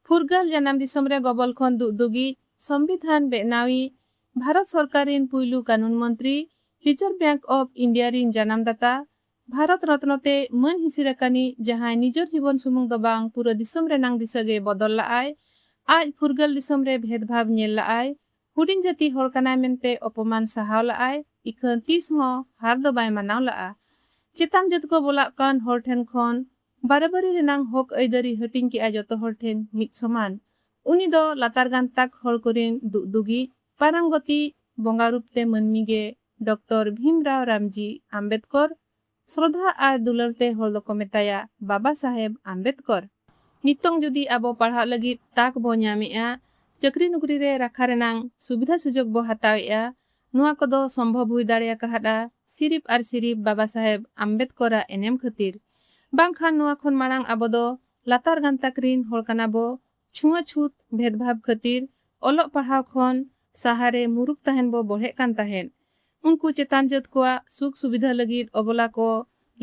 ᱯᱷᱩᱨᱜᱟᱹᱞ ᱡᱟᱱᱟᱢ ᱫᱤᱥᱚᱢ ᱨᱮ ᱜᱚᱵᱚᱞ ᱠᱷᱚᱱ ᱫᱩᱜ ᱫᱩᱜᱤᱡ, ᱥᱚᱢᱵᱤᱫᱷᱟᱱ ᱵᱮᱜᱱᱟᱣᱤᱡ, ᱵᱷᱟᱨᱚᱛ ᱥᱚᱨᱠᱟᱨ ᱨᱤᱱ ᱯᱩᱭᱞᱩ ᱠᱟᱱᱩᱱ ᱢᱚᱱᱛᱨᱤ, ᱨᱤᱡᱚᱨᱵᱽ ᱵᱮᱸᱠ ᱚᱯᱷ ᱤᱱᱰᱤᱭᱟ ᱨᱤᱱ ᱡᱟᱱᱟᱢ ᱫᱟᱛᱟ, ᱵᱷᱟᱨᱚᱛ ᱨᱚᱛᱱᱚ ᱛᱮ ᱢᱟᱹᱱ ᱦᱤᱥᱤᱨ ᱟᱠᱟᱱᱤᱡ ᱡᱟᱦᱟᱸᱭ ᱱᱤᱡᱚᱨ ᱡᱤᱵᱚᱱ ᱥᱩᱢᱩᱝ ᱫᱚ ᱵᱟᱝ ᱯᱩᱨᱟᱹ ᱫᱤᱥᱚᱢ ᱨᱮᱱᱟᱝ ᱫᱤᱥᱟᱹ ᱜᱮᱭ ᱵᱚᱫᱚᱞ ᱞᱟᱜ ᱟᱭ᱾ ᱟᱡ ᱯᱷᱩᱨᱜᱟᱹᱞ ᱫᱤᱥᱚᱢ ᱨᱮ ᱵᱷᱮᱫᱽ ᱵᱷᱟᱵᱽ ᱧᱮᱞ ᱞᱟᱜ ᱟᱭ, ᱦᱩᱰᱤᱧ ᱡᱟᱹᱛᱤ ᱦᱚᱲ ᱠᱟᱱᱟᱭ ᱢᱮᱱᱛᱮ ᱚᱯᱚᱢᱟᱱ ᱥᱟᱦᱟᱣ ᱞᱟᱜ ᱟᱭ, ᱤᱠᱷᱟᱹᱱ ᱛᱤᱥ ᱦᱚᱸ ᱦᱟᱨ ᱫᱚ ᱵᱟᱭ ᱢᱟᱱᱟᱣ ᱞᱟᱜᱼᱟ᱾ ᱪᱮᱛᱟᱱ ᱡᱟᱹᱛ ᱠᱚ ᱵᱚᱞᱟᱜ ᱠᱟᱱ ᱦᱚᱲ ᱴᱷᱮᱱ ᱠᱷᱚᱱ ᱵᱟᱨᱟᱵᱟᱨᱤ ᱨᱮᱱᱟᱝ ᱦᱚᱠ ᱟᱹᱭᱫᱟᱹᱨᱤ ᱦᱟᱹᱴᱤᱧ ᱠᱮᱫᱼᱟ ᱡᱚᱛᱚ ᱦᱚᱲ ᱴᱷᱮᱱ ᱢᱤᱫ ᱥᱚᱢᱟᱱ᱾ ᱩᱱᱤ ᱫᱚ ᱞᱟᱛᱟᱨ ᱜᱟᱱᱛᱟᱠ ᱦᱚᱲ ᱠᱚᱨᱤᱱ ᱫᱩᱜᱫᱩᱜᱤᱡ, ᱯᱟᱨᱟᱝᱜᱚᱛᱤᱡ, ᱵᱚᱸᱜᱟ ᱨᱩᱯ ᱛᱮ ᱢᱟᱹᱱᱢᱤ ᱜᱮ ᱰᱚᱠᱴᱚᱨ ᱵᱷᱤᱢ ᱨᱟᱣ ᱨᱟᱢᱡᱤ ᱟᱢᱵᱮᱫᱽᱠᱚᱨ, ᱥᱨᱚᱫᱷᱟ ᱟᱨ ᱫᱩᱞᱟᱹᱲ ᱛᱮ ᱦᱚᱲ ᱫᱚᱠᱚ ᱢᱮᱛᱟᱭᱟ ᱵᱟᱵᱟ ᱥᱟᱦᱮᱵᱽ ᱟᱢᱵᱮᱫᱽᱠᱚᱨ᱾ ᱱᱤᱛᱚᱝ ᱡᱩᱫᱤ ᱟᱵᱚ ᱯᱟᱲᱦᱟᱜ ᱞᱟᱹᱜᱤᱫ ᱛᱟᱠ ᱵᱚ ᱧᱟᱢᱮᱫᱼᱟ, ᱪᱟᱹᱠᱨᱤ ᱱᱩᱠᱨᱤ ᱨᱮ ᱨᱟᱠᱷᱟ ᱨᱮᱱᱟᱝ ᱥᱩᱵᱤᱫᱷᱟ ᱥᱩᱡᱚᱜᱽ ᱵᱚ ᱦᱟᱛᱟᱣᱮᱫᱼᱟ, ᱱᱚᱣᱟ ᱠᱚᱫᱚ ᱥᱚᱢᱵᱷᱚᱵᱽ ᱦᱩᱭ ᱫᱟᱲᱮ ᱟᱠᱟᱦᱟᱫᱼᱟ ᱥᱤᱨᱤᱯ ᱟᱨ ᱥᱤᱨᱤᱯ ᱵᱟᱵᱟ ᱥᱟᱦᱮᱵᱽ ᱟᱢᱵᱮᱫᱽᱠᱚᱨ ᱟᱜ ᱮᱱᱮᱢ ᱠᱷᱟᱹᱛᱤᱨ᱾ ᱵᱟᱝ ᱠᱷᱟᱱ ᱱᱚᱣᱟ ᱠᱷᱚᱱ ᱢᱟᱬᱟᱝ ᱟᱵᱚ ᱫᱚ ᱞᱟᱛᱟᱨ ᱜᱟᱱᱛᱟᱠ ᱨᱤᱱ ᱦᱚᱲ ᱠᱟᱱᱟ ᱵᱚ, ᱪᱷᱩᱣᱟᱹ ᱪᱷᱩᱛ ᱵᱷᱮᱫᱽ ᱵᱷᱟᱵᱽ ᱠᱷᱟᱹᱛᱤᱨ ᱚᱞᱚᱜ ᱯᱟᱲᱦᱟᱣ ᱠᱷᱚᱱ ᱥᱟᱦᱟ ᱨᱮ ᱢᱩᱨᱩᱠ ᱛᱟᱦᱮᱱ ᱵᱚ ᱵᱚᱲᱦᱮᱜ ᱠᱟᱱ ᱛᱟᱦᱮᱸᱫ᱾ ᱩᱱᱠᱩ ᱪᱮᱛᱟᱱ ᱡᱟᱹᱛ ᱠᱚᱣᱟᱜ ᱥᱩᱠ ᱥᱩᱵᱤᱫᱷᱟᱹ ᱞᱟᱹᱜᱤᱫ ᱚᱵᱚᱞᱟ ᱠᱚ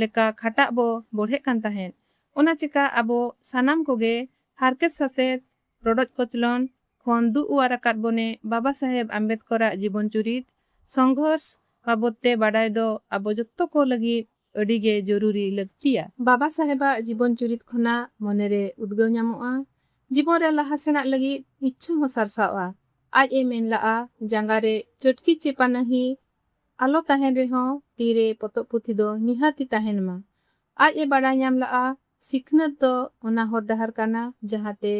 ᱞᱮᱠᱟ ᱠᱷᱟᱴᱟᱜ ᱵᱚ ᱵᱚᱲᱦᱮᱜ ᱠᱟᱱ ᱛᱟᱦᱮᱸᱫ᱾ ᱚᱱᱟ ᱪᱮᱠᱟ ᱟᱵᱚ ᱥᱟᱱᱟᱢ ᱠᱚᱜᱮ ᱦᱟᱨᱠᱮᱛ ᱥᱟᱥᱮᱛ ᱨᱚᱰᱚᱡ ᱠᱚᱪᱞᱚᱱ ᱠᱷᱚᱱ ᱫᱩᱜ ᱚᱣᱟᱨ ᱟᱠᱟᱫ ᱵᱚᱱᱮ ᱵᱟᱵᱟ ᱥᱟᱦᱮᱵᱽ ᱟᱢᱵᱮᱫᱽᱠᱚᱨ ᱟᱜ ᱡᱤᱵᱚᱱ ᱪᱩᱨᱤᱛ, ᱥᱚᱝᱜᱷᱚᱨᱥ, ᱵᱟᱵᱚᱛ ᱛᱮ ᱵᱟᱰᱟᱭ ᱫᱚ ᱟᱵᱚ ᱡᱚᱛᱚ ᱠᱚ ᱞᱟᱹᱜᱤᱫ ᱟᱹᱰᱤ ᱜᱮ ᱡᱚᱨᱩᱨᱤ, ᱞᱟᱹᱠᱛᱤᱭᱟ᱾ ᱵᱟᱵᱟ ᱥᱟᱦᱮᱵᱽ ᱟᱜ ᱡᱤᱵᱚᱱ ᱪᱩᱨᱤᱛ ᱠᱷᱚᱱᱟᱜ ᱢᱚᱱᱮ ᱨᱮ ᱩᱫᱽᱜᱟᱹᱣ ᱧᱟᱢᱚᱜᱼᱟ, ᱡᱤᱵᱚᱱ ᱨᱮ ᱞᱟᱦᱟ ᱥᱮᱬᱟᱜ ᱞᱟᱹᱜᱤᱫ ᱤᱪᱪᱷᱟᱹ ᱦᱚᱸ ᱥᱟᱨᱥᱟᱣᱜᱼᱟ᱾ ᱟᱡ ᱮ ᱢᱮᱱ ᱞᱟᱜᱼᱟ, ᱡᱟᱸᱜᱟ ᱨᱮ ᱪᱟᱹᱴᱠᱤ ᱪᱮ ᱯᱟᱱᱟᱦᱤ ᱟᱞᱚ ᱛᱟᱦᱮᱸᱱ ᱨᱮᱦᱚᱸ ᱛᱤ ᱨᱮ ᱯᱚᱛᱚᱵ ᱯᱩᱛᱷᱤ ᱫᱚ ᱱᱤᱦᱟᱹᱛᱤ ᱛᱟᱦᱮᱸᱱ ᱢᱟ᱾ ᱟᱡ ᱮ ᱵᱟᱰᱟᱭ ᱧᱟᱢ ᱞᱟᱜᱼᱟ, ᱥᱤᱠᱷᱱᱟᱹᱛ ᱫᱚ ᱚᱱᱟ ᱦᱚᱨ ᱰᱟᱦᱟᱨ ᱠᱟᱱᱟ ᱡᱟᱦᱟᱸ ᱛᱮ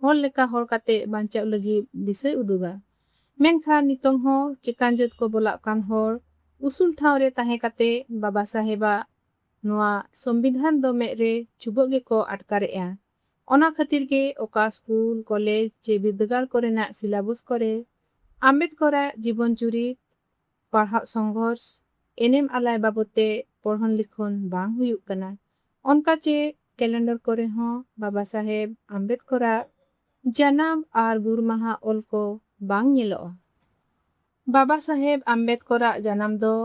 ᱦᱚᱲ ᱞᱮᱠᱟ ᱦᱚᱲ ᱠᱟᱛᱮ ᱵᱟᱧᱪᱟᱜ ᱞᱟᱹᱜᱤᱫ ᱫᱤᱥᱟᱹᱭ ᱩᱫᱩᱜᱟ᱾ ᱢᱮᱱᱠᱷᱟᱱ ᱱᱤᱛᱚᱝ ᱦᱚᱸ ᱪᱮᱛᱟᱱ ᱡᱟᱹᱛ ᱠᱚ ᱵᱚᱞᱟᱜ ᱠᱟᱱ ᱦᱚᱲ ᱩᱥᱩᱞ ᱴᱷᱟᱶ ᱨᱮ ᱛᱟᱦᱮᱸ ᱠᱟᱛᱮ ᱵᱟᱵᱟ ᱥᱟᱦᱮᱵᱽ ᱟᱜ ᱱᱚᱣᱟ ᱥᱚᱢᱵᱤᱫᱷᱟᱱ ᱫᱚ ᱢᱮᱫ ᱨᱮ ᱪᱩᱵᱟᱹᱜ ᱜᱮᱠᱚ ᱟᱴᱠᱟᱨᱮᱜᱼᱟ᱾ ᱚᱱᱟ ᱠᱷᱟᱹᱛᱤᱨ ᱜᱮ ᱚᱠᱟ ᱥᱠᱩᱞ, ᱠᱚᱞᱮᱡᱽ ᱪᱮ ᱵᱤᱨᱫᱟᱹᱜᱟᱲ ᱠᱚᱨᱮᱱᱟᱜ ᱥᱤᱞᱟᱵᱚᱥ ᱠᱚᱨᱮ ᱟᱢᱵᱮᱫᱽᱠᱚᱨ ᱟᱜ ᱡᱤᱵᱚᱱ ᱪᱩᱨᱤᱛ, ᱯᱟᱲᱦᱟᱜ ᱥᱚᱝᱜᱷᱚᱨᱥ, ᱮᱱᱮᱢ ᱟᱞᱟᱭ ᱵᱟᱵᱚᱛ ᱛᱮ ᱯᱚᱲᱦᱚᱱ ᱞᱤᱠᱷᱚᱱ ᱵᱟᱝ ᱦᱩᱭᱩᱜ ᱠᱟᱱᱟ᱾ ᱚᱱᱠᱟ ᱪᱮ ᱠᱮᱞᱮᱱᱰᱚᱨ ᱠᱚᱨᱮ ᱦᱚᱸ ᱵᱟᱵᱟ ᱥᱟᱦᱮᱵᱽ ᱟᱢᱵᱮᱫᱽᱠᱚᱨ ᱟᱜ ᱡᱟᱱᱟᱢ ᱟᱨ ᱜᱩᱨ ᱢᱟᱦᱟ ᱚᱞ ᱠᱚ ᱵᱟᱝ ᱧᱮᱞᱚᱜᱼᱟ᱾ ᱵᱟᱵᱟ ᱥᱟᱦᱮᱵᱽ ᱟᱢᱵᱮᱫᱽᱠᱚᱨ ᱟᱜ ᱡᱟᱱᱟᱢ ᱫᱚ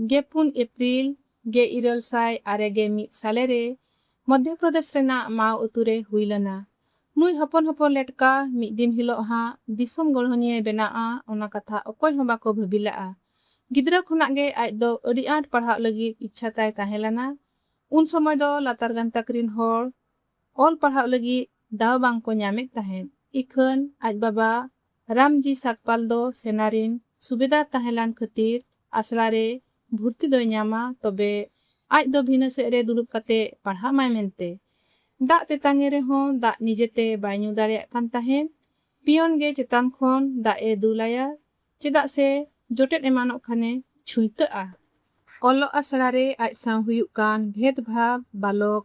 ᱜᱮ ᱯᱩᱱ ᱮᱯᱨᱤᱞ ᱜᱮᱤᱨᱟᱹᱞ ᱥᱟᱭ ᱟᱨᱮ ᱜᱮ ᱢᱤᱫ ᱥᱟᱞᱮ ᱨᱮ ᱢᱚᱫᱷᱭᱚ ᱯᱨᱚᱫᱮᱥ ᱨᱮᱱᱟᱜ ᱢᱟᱣ ᱟᱹᱛᱩ ᱨᱮ ᱦᱩᱭ ᱞᱮᱱᱟ᱾ ᱱᱩᱭ ᱦᱚᱯᱚᱱ ᱦᱚᱯᱚᱱ ᱞᱮᱴᱠᱟ ᱢᱤᱫ ᱫᱤᱱ ᱦᱤᱞᱚᱜ ᱦᱟᱸᱜ ᱫᱤᱥᱚᱢ ᱜᱚᱲᱦᱚᱱᱤᱭᱟᱹᱭ ᱵᱮᱱᱟᱜᱼᱟ ᱚᱱᱟ ᱠᱟᱛᱷᱟ ᱚᱠᱚᱭ ᱦᱚᱸ ᱵᱟᱠᱚ ᱵᱷᱟᱹᱵᱤ ᱞᱟᱜᱼᱟ᱾ ᱜᱤᱫᱽᱨᱟᱹ ᱠᱷᱚᱱᱟᱜ ᱜᱮ ᱟᱡ ᱫᱚ ᱟᱹᱰᱤ ᱟᱸᱴ ᱯᱟᱲᱦᱟᱜ ᱞᱟᱹᱜᱤᱫ ᱤᱪᱪᱷᱟ ᱛᱟᱭ ᱛᱟᱦᱮᱸ ᱞᱮᱱᱟ᱾ ᱩᱱ ᱥᱚᱢᱚᱭ ᱫᱚ ᱞᱟᱛᱟᱨ ᱜᱟᱱᱛᱟᱠ ᱨᱤᱱ ᱦᱚᱲ ᱚᱞ ᱯᱟᱲᱦᱟᱜ ᱞᱟᱹᱜᱤᱫ ᱫᱟᱣ ᱵᱟᱝ ᱠᱚ ᱧᱟᱢᱮᱫ ᱛᱟᱦᱮᱸᱫ᱾ ᱤᱠᱷᱟᱹᱱ ᱟᱡ ᱵᱟᱵᱟ ᱨᱟᱢᱡᱤ ᱥᱟᱠᱯᱟᱞ ᱫᱚ ᱥᱮᱱᱟ ᱨᱤᱱ ᱥᱩᱵᱮᱫᱟᱨ ᱛᱟᱦᱮᱸ ᱞᱟᱱ ᱠᱷᱟᱹᱛᱤᱨ ᱟᱥᱲᱟ ᱨᱮ ᱵᱷᱩᱨᱛᱤ ᱫᱚᱭ ᱧᱟᱢᱟ ᱛᱚᱵᱮ ᱟᱡ ᱫᱚ ᱵᱷᱤᱱᱟᱹ ᱥᱮᱫ ᱨᱮ ᱫᱩᱲᱩᱵ ᱠᱟᱛᱮ ᱯᱟᱲᱦᱟᱜ ᱢᱟᱭ ᱢᱮᱱᱛᱮ᱾ ᱫᱟᱜ ᱛᱮᱛᱟᱝ ᱮ ᱨᱮᱦᱚᱸ ᱫᱟᱜ ᱱᱤᱡᱮ ᱛᱮ ᱵᱟᱭ ᱧᱩ ᱫᱟᱲᱮᱭᱟᱜ ᱠᱟᱱ ᱛᱟᱦᱮᱸᱫ᱾ ᱯᱤᱭᱚᱱ ᱜᱮ ᱪᱮᱛᱟᱱ ᱠᱷᱚᱱ ᱫᱟᱜ ᱮ ᱫᱩᱞ ᱟᱭᱟ ᱪᱮᱫᱟᱜ ᱥᱮ ᱡᱚᱴᱮᱫ ᱮᱢᱟᱱᱚᱜ ᱠᱷᱟᱱᱮ ᱪᱷᱩᱸᱭᱛᱟᱹᱜᱼᱟ᱾ ᱚᱞᱚᱜ ᱟᱥᱲᱟ ᱨᱮ ᱟᱡ ᱥᱟᱶ ᱦᱩᱭᱩᱜ ᱠᱟᱱ ᱵᱷᱮᱫᱽ ᱵᱷᱟᱵᱽ ᱵᱟᱞᱚᱠ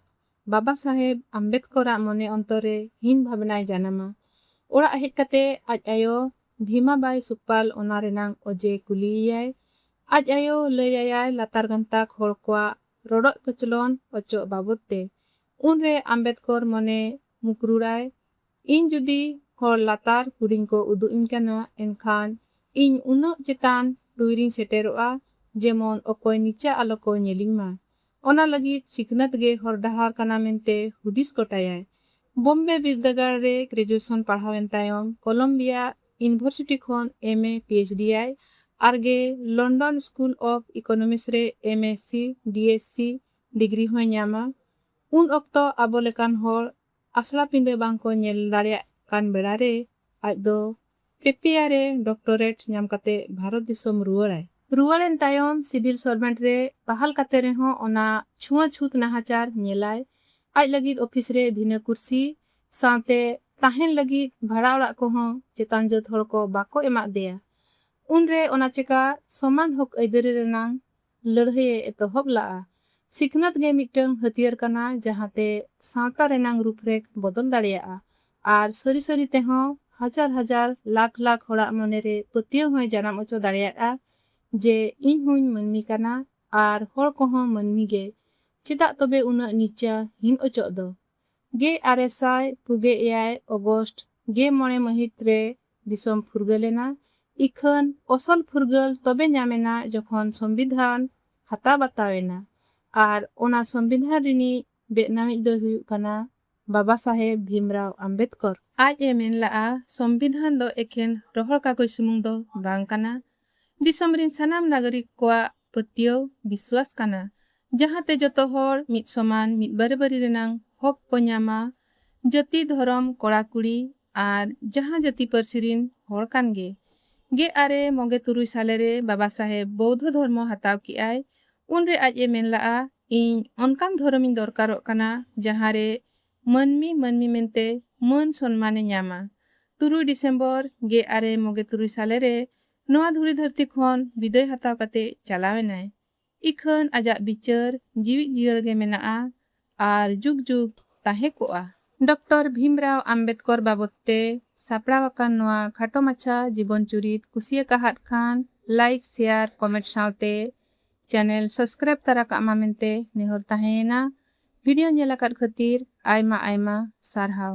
ᱵᱟᱵᱟ ᱥᱟᱦᱮᱵᱽ ᱟᱢᱵᱮᱫᱽᱠᱚᱨ ᱟᱜ ᱢᱚᱱᱮ ᱚᱱᱛᱚᱨ ᱨᱮ ᱦᱤᱱ ᱵᱷᱟᱵᱽᱱᱟᱭ ᱡᱟᱱᱟᱢᱟ᱾ ᱚᱲᱟᱜ ᱦᱮᱡ ᱠᱟᱛᱮ ᱟᱡ ᱟᱭᱳ ᱵᱷᱤᱢᱟ ᱵᱟᱭ ᱥᱩᱠᱯᱟᱞ ᱚᱱᱟ ᱨᱮᱱᱟᱝ ᱚᱡᱮ ᱠᱩᱞᱤ ᱮᱭᱟᱭ᱾ ᱟᱡ ᱟᱭᱳ ᱞᱟᱹᱭ ᱟᱭᱟᱭ ᱞᱟᱛᱟᱨ ᱜᱟᱱᱛᱟᱠ ᱦᱚᱲ ᱠᱚᱣᱟᱜ ᱨᱚᱰᱚᱡ ᱠᱚᱪᱞᱚᱱ ᱚᱪᱚᱜ ᱵᱟᱵᱚᱛ ᱛᱮ᱾ ᱩᱱ ᱨᱮ ᱟᱢᱵᱮᱫᱽᱠᱚᱨ ᱢᱚᱱᱮ ᱢᱩᱠᱨᱩᱲᱟᱭ ᱤᱧ ᱡᱩᱫᱤ ᱦᱚᱲ ᱞᱟᱛᱟᱨ ᱦᱩᱰᱤᱧ ᱠᱚ ᱩᱫᱩᱜ ᱤᱧ ᱠᱟᱱᱟ ᱮᱱᱠᱷᱟᱱ ᱤᱧ ᱩᱱᱟᱹᱜ ᱪᱮᱛᱟᱱ ᱴᱩᱭ ᱨᱤᱧ ᱥᱮᱴᱮᱨᱚᱜᱼᱟ ᱡᱮᱢᱚᱱ ᱚᱠᱚᱭ ᱱᱤᱪᱟᱜ ᱟᱞᱚ ᱠᱚ ᱧᱮᱞᱤᱧ ᱢᱟ᱾ ᱚᱱᱟ ᱞᱟᱹᱜᱤᱫ ᱥᱤᱠᱷᱱᱟᱹᱛ ᱜᱮ ᱦᱚᱨ ᱰᱟᱦᱟᱨ ᱠᱟᱱᱟ ᱢᱮᱱᱛᱮ ᱦᱩᱫᱤᱥ ᱜᱚᱴᱟᱭᱟᱭ᱾ ᱵᱚᱢᱵᱮ ᱵᱤᱨᱫᱟᱹᱜᱟᱲ ᱨᱮ ᱜᱨᱮᱡᱩᱭᱮᱥᱚᱱ ᱯᱟᱲᱦᱟᱣ ᱮᱱ ᱛᱟᱭᱚᱢ ᱠᱚᱞᱚᱢᱵᱤᱭᱟ ᱤᱱᱵᱷᱚᱨᱥᱤᱴᱤ ᱠᱷᱚᱱ ᱮᱢ ᱮ ᱯᱤᱮᱪᱰᱤ ᱟᱭ ᱟᱨᱜᱮ ᱞᱚᱱᱰᱚᱱ ᱥᱠᱩᱞ ᱚᱯᱷ ᱤᱠᱚᱱᱚᱢᱤᱥ ᱨᱮ M S C, D S C, degree ᱦᱚᱸᱭ ᱧᱟᱢᱟ᱾ ᱩᱱ ᱚᱠᱛᱚ ᱟᱵᱚ ᱞᱮᱠᱟᱱ ᱦᱚᱲ ᱟᱥᱲᱟ ᱯᱤᱸᱰᱟᱹ ᱵᱟᱝ ᱠᱚ ᱧᱮᱞ ᱫᱟᱲᱮᱭᱟᱜ ᱠᱟᱱ ᱵᱮᱲᱟ ᱨᱮ ᱟᱡ ᱫᱚ ᱯᱮᱯᱮᱭᱟ ᱨᱮ ᱰᱚᱠᱴᱚᱨᱮᱴ ᱧᱟᱢ ᱠᱟᱛᱮ ᱵᱷᱟᱨᱚᱛ ᱫᱤᱥᱚᱢ ᱨᱩᱣᱟᱹᱲ ᱟᱭ᱾ ᱨᱩᱣᱟᱹᱲ ᱮᱱ ᱛᱟᱭᱚᱢ ᱥᱤᱵᱤᱞ ᱥᱚᱨᱵᱷᱮᱱᱴ ᱨᱮ ᱵᱟᱦᱟᱞ ᱠᱟᱛᱮ ᱨᱮᱦᱚᱸ ᱚᱱᱟ ᱪᱷᱩᱣᱟᱹ ᱪᱷᱩᱛ ᱱᱟᱦᱟᱪᱟᱨ ᱧᱮᱞ ᱟᱭ᱾ ᱟᱡ ᱞᱟᱹᱜᱤᱫ ᱚᱯᱷᱤᱥ ᱨᱮ ᱵᱷᱤᱱᱟᱹ ᱠᱩᱨᱥᱤ ᱥᱟᱶᱛᱮ ᱛᱟᱦᱮᱸᱱ ᱞᱟᱹᱜᱤᱫ ᱵᱷᱟᱲᱟ ᱚᱲᱟᱜ ᱠᱚ ᱦᱚᱸ ᱪᱮᱛᱟᱱ ᱡᱟᱹᱛ ᱦᱚᱲ ᱠᱚ ᱵᱟᱠᱚ ᱮᱢᱟᱜ ᱫᱮᱭᱟ᱾ ᱩᱱ ᱨᱮ ᱚᱱᱟ ᱪᱮᱠᱟ ᱥᱚᱢᱟᱱ ᱦᱚᱠ ᱟᱹᱭᱫᱟᱹᱨᱤ ᱨᱮᱱᱟᱝ ᱞᱟᱹᱲᱦᱟᱹᱭ ᱮ ᱮᱛᱚᱦᱚᱵ ᱞᱟᱜᱼᱟ᱾ ᱥᱤᱠᱷᱱᱟᱹᱛ ᱜᱮ ᱢᱤᱫᱴᱟᱹᱝ ᱦᱟᱹᱛᱭᱟᱹᱨ ᱠᱟᱱᱟ ᱡᱟᱦᱟᱸ ᱛᱮ ᱥᱟᱶᱛᱟ ᱨᱮᱱᱟᱝ ᱨᱩᱯᱨᱮᱠᱷ ᱵᱚᱫᱚᱞ ᱫᱟᱲᱮᱭᱟᱜᱼᱟ ᱟᱨ ᱥᱟᱹᱨᱤ ᱥᱟᱹᱨᱤ ᱛᱮᱦᱚᱸ ᱦᱟᱡᱟᱨ ᱦᱟᱡᱟᱨ ᱞᱟᱠᱷ ᱞᱟᱠᱷ ᱦᱚᱲᱟᱜ ᱢᱚᱱᱮ ᱨᱮ ᱯᱟᱹᱛᱭᱟᱹᱣ ᱦᱚᱸᱭ ᱡᱟᱱᱟᱢ ᱚᱪᱚ ᱫᱟᱲᱮᱭᱟᱜᱼᱟ ᱡᱮ ᱤᱧ ᱦᱚᱸᱧ ᱢᱟᱹᱱᱢᱤ ᱠᱟᱱᱟ ᱟᱨ ᱦᱚᱲ ᱠᱚᱦᱚᱸ ᱢᱟᱹᱱᱢᱤ ᱜᱮ, ᱪᱮᱫᱟᱜ ᱛᱚᱵᱮ ᱩᱱᱟᱹᱜ ᱱᱤᱪᱟ ᱦᱤᱱ ᱚᱪᱚᱜ ᱫᱚ᱾ ᱜᱮ ᱟᱨᱮ ᱥᱟᱭ ᱯᱩᱜᱮ ᱮᱭᱟᱭ ᱚᱜᱚᱥᱴ ᱜᱮ ᱢᱚᱬᱮ ᱢᱟᱹᱦᱤᱛ ᱨᱮ ᱫᱤᱥᱚᱢ ᱯᱷᱩᱨᱜᱟᱹᱞ ᱮᱱᱟ ᱤᱠᱷᱟᱹᱱ ᱚᱥᱚᱞ ᱯᱷᱩᱨᱜᱟᱹᱞ ᱛᱚᱵᱮ ᱧᱟᱢ ᱮᱱᱟ ᱡᱚᱠᱷᱚᱱ ᱥᱚᱢᱵᱤᱫᱷᱟᱱ ᱦᱟᱛᱟᱣ ᱵᱟᱛᱟᱣ ᱮᱱᱟ ᱟᱨ ᱚᱱᱟ ᱥᱚᱢᱵᱤᱫᱷᱟᱱ ᱨᱤᱱᱤᱡ ᱵᱮᱜᱱᱟᱣᱤᱡ ᱫᱚᱭ ᱦᱩᱭᱩᱜ ᱠᱟᱱᱟ ᱵᱟᱵᱟ ᱥᱟᱦᱮᱵᱽ ᱵᱷᱤᱢᱨᱟᱣ ᱟᱢᱵᱮᱫᱽᱠᱚᱨ᱾ ᱟᱡ ᱮ ᱢᱮᱱ ᱞᱟᱜᱼᱟ ᱥᱚᱢᱵᱤᱫᱷᱟᱱ ᱫᱚ ᱮᱠᱷᱮᱱ ᱨᱚᱦᱚᱲ ᱠᱟᱜᱚᱡᱽ ᱥᱩᱢᱩᱝ ᱫᱚ ᱵᱟᱝ ᱠᱟᱱᱟ, ᱫᱤᱥᱚᱢ ᱨᱤᱱ ᱥᱟᱱᱟᱢ ᱱᱟᱜᱚᱨᱤᱠ ᱠᱚᱣᱟᱜ ᱯᱟᱹᱛᱭᱟᱹᱣ, ᱵᱤᱥᱣᱟᱥ, ᱠᱟᱱᱟ ᱡᱟᱦᱟᱸ ᱛᱮ ᱡᱚᱛᱚ ᱦᱚᱲ ᱢᱤᱫ ᱥᱚᱢᱟᱱ, ᱢᱤᱫ ᱵᱟᱨᱮᱵᱟᱨᱤ ᱨᱮᱱᱟᱝ ᱦᱚᱠ ᱠᱚ ᱧᱟᱢᱟ, ᱡᱟᱹᱛᱤ, ᱫᱷᱚᱨᱚᱢ, ᱠᱚᱲᱟ ᱠᱩᱲᱤ ᱟᱨ ᱡᱟᱦᱟᱸ ᱡᱟᱹᱛᱤ ᱯᱟᱹᱨᱥᱤ ᱨᱤᱱ ᱦᱚᱲ ᱠᱟᱱ ᱜᱮ᱾ ᱜᱮ ᱟᱨᱮ ᱢᱚᱜᱮ ᱛᱩᱨᱩᱭ ᱥᱟᱞᱮ ᱨᱮ ᱵᱟᱵᱟ ᱥᱟᱦᱮᱵᱽ ᱵᱚᱣᱫᱷᱚ ᱫᱷᱚᱨᱢᱚ ᱦᱟᱛᱟᱣ ᱠᱮᱜ ᱟᱭ ᱩᱱ ᱨᱮ ᱟᱡ ᱮ ᱢᱮᱱ ᱞᱟᱜᱼᱟ ᱤᱧ ᱚᱱᱠᱟᱱ ᱫᱷᱚᱨᱚᱢ ᱤᱧ ᱫᱚᱨᱠᱟᱨᱚᱜ ᱠᱟᱱᱟ ᱡᱟᱦᱟᱸ ᱨᱮ ᱢᱟᱹᱱᱢᱤ ᱢᱟᱹᱱᱢᱤ ᱢᱮᱱᱛᱮ ᱢᱟᱹᱱ ᱥᱚᱱᱢᱟᱱ ᱮ ᱧᱟᱢᱟ᱾ ᱛᱩᱨᱩᱭ ᱰᱤᱥᱮᱢᱵᱚᱨ ᱜᱮ ᱟᱨᱮ ᱢᱚᱜᱮ ᱛᱩᱨᱩᱭ ᱥᱟᱞᱮ ᱨᱮ ᱱᱚᱣᱟ ᱫᱷᱩᱲᱤ ᱫᱷᱟᱹᱨᱛᱤ ᱠᱷᱚᱱ ᱵᱤᱫᱟᱹᱭ ᱦᱟᱛᱟᱣ ᱠᱟᱛᱮ ᱪᱟᱞᱟᱣ ᱮᱱᱟᱭ᱾ ᱤᱠᱷᱟᱹᱱ ᱟᱡᱟᱜ ᱵᱤᱪᱟᱹᱨ ᱡᱤᱣᱤᱫ ᱡᱤᱭᱟᱹᱲ ᱜᱮ ᱢᱮᱱᱟᱜᱼᱟ ᱟᱨ ᱡᱩᱜᱽ ᱡᱩᱜᱽ ᱛᱟᱦᱮᱸ ᱠᱚᱜᱼᱟ᱾ ᱰᱚᱠᱴᱚᱨ ᱵᱷᱤᱢᱨᱟᱣ ᱟᱢᱵᱮᱫᱽᱠᱚᱨ ᱵᱟᱵᱚᱛ ᱛᱮ ᱥᱟᱯᱲᱟᱣ ᱟᱠᱟᱱ ᱱᱚᱣᱟ ᱠᱷᱟᱴᱚ ᱢᱟᱪᱷᱟ ᱡᱤᱵᱚᱱ ᱪᱩᱨᱤᱛ ᱠᱩᱥᱤ ᱟᱠᱟᱦᱟᱫ ᱠᱷᱟᱱ ᱞᱟᱭᱤᱠ, ᱥᱮᱭᱟᱨ, ᱠᱚᱢᱮᱸᱴ ᱥᱟᱶᱛᱮ ᱪᱟᱱᱮᱞ ᱥᱚᱥᱠᱨᱟᱭᱤᱵᱽ ᱛᱟᱨᱟ ᱠᱟᱜ ᱢᱟ ᱢᱮᱱᱛᱮ ᱱᱮᱦᱚᱨ ᱛᱟᱦᱮᱸᱭᱮᱱᱟ᱾ ᱵᱷᱤᱰᱤᱭᱚ ᱧᱮᱞ ᱟᱠᱟᱫ ᱠᱷᱟᱹᱛᱤᱨ ᱟᱭᱢᱟ ᱟᱭᱢᱟ ᱥᱟᱨᱦᱟᱣ᱾